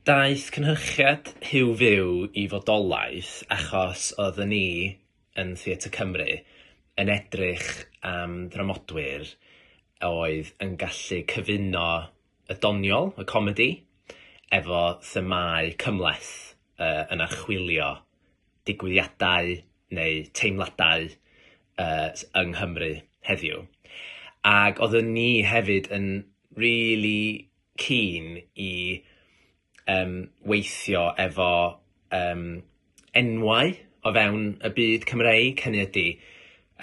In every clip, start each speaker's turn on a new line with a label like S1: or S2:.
S1: Daeth cynhyrchiad Huw Fyw i fodolaeth achos oedden ni yn Theatr Cymru yn edrych am ddramodwyr oedd yn gallu cyfuno y doniol, y comedi, efo themâu cymhleth. uh, yn archwilio digwyddiadau neu teimladau uh, yng Nghymru heddiw. Ac oeddwn ni hefyd yn really keen i um, weithio efo um, enwau o fewn y byd Cymreig, hynny ydy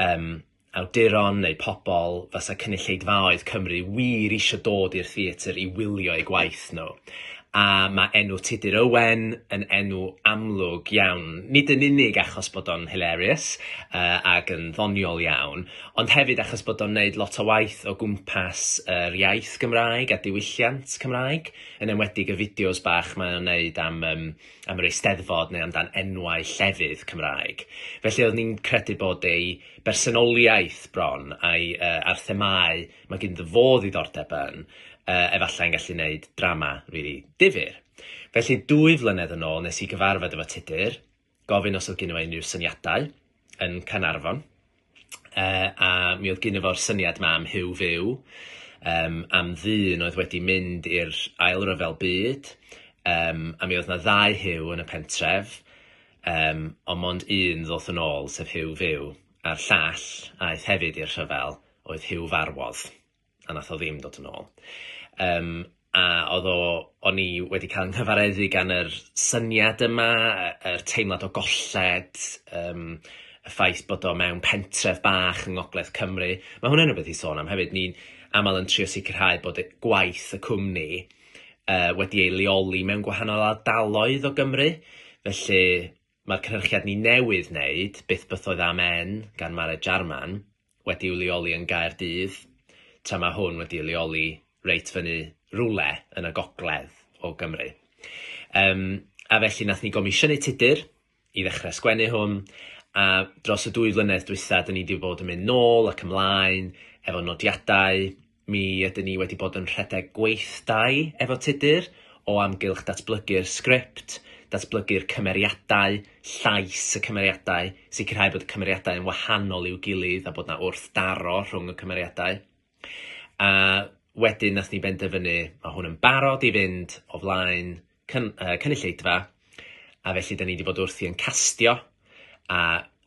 S1: um, awduron neu pobl fasa cynulleidfaoedd Cymru wir isio dod i'r theatr i wylio eu gwaith nhw. A mae enw Tudur Owen yn enw amlwg iawn, nid yn unig achos bod o'n hilarious uh, ac yn ddoniol iawn, ond hefyd achos bod o'n neud lot o waith o gwmpas yr uh, iaith Gymraeg a diwylliant Cymraeg, yn enwedig y fideos bach mae o'n neud am, um, am yr eisteddfod neu amdan enwau llefydd Cymraeg. Felly oedd ni'n credu bod ei bersonoliaeth bron a'i yy a'r themâu mae ganddo fo ddiddordeb yn, yy efallai'n gallu wneud drama rili difyr. Felly dwy flynedd yn ôl nes i gyfarfod efo Tudur, gofyn os oedd gynno fo unrhyw syniadau, yn Caernarfon, yy a mi oedd gynno fo'r syniad 'ma am Huw Fyw, yym am ddyn oedd wedi mynd i'r Ail Ryfel Byd, yym a mi oedd 'na ddau Huw yn y pentref, Yym, ond mond un ddoth yn ôl, sef Huw Fyw, a'r llall, aeth hefyd i'r rhyfel, oedd Huw Farwodd, a nath o ddim dod yn ôl. Yym, a oedd o... o'n i wedi cael 'nghyfareddu gan yr syniad yma, yy yr teimlad o golled, yym y ffaith bod o mewn pentref bach yng ngogledd Cymru. Ma' hwnna'n rwbeth i sôn am hefyd, ni'n amal yn trio sicrhau bod e- gwaith y cwmni yy wedi ei leoli mewn gwahanol ardaloedd o Gymru, felly mae'r cynhyrchiad ni newydd wneud, Byth Bythoedd Amen gan Mared Jarman, wedi i'w leoli yn Gaerdydd, tra mae hwn wedi ei leoli reit fyny rywle yn y gogledd o Gymru. Yym a felly nath ni gomisiynu tudur, i ddechrau sgwennu hwn, a dros y dwy flynedd dwytha, dyn ni wedi bod yn mynd nôl ac ymlaen efo nodiadau. Mi ydyn ni wedi bod yn rhedeg gweithdai efo Tudur o amgylch datblygu'r sgript, datblygu'r cymeriadau, llais y cymeriadau, sicrhau bod y cymeriadau yn wahanol i'w gilydd a bod 'na wrthdaro rhwng y cymeriadau. A wedyn nath ni benderfynu, ma' hwn yn barod i fynd o flaen cyn- yy cynulleidfa, a felly 'dan ni 'di bod wrthi yn castio, a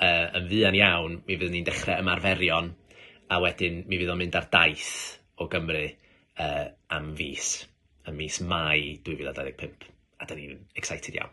S1: yy yn fuan iawn mi fyddwn ni'n dechre ymarferion, a wedyn mi fydd o'n mynd ar daith o Gymru yy am fis, ym mis Mai 2025, a 'dan ni'n excited iawn.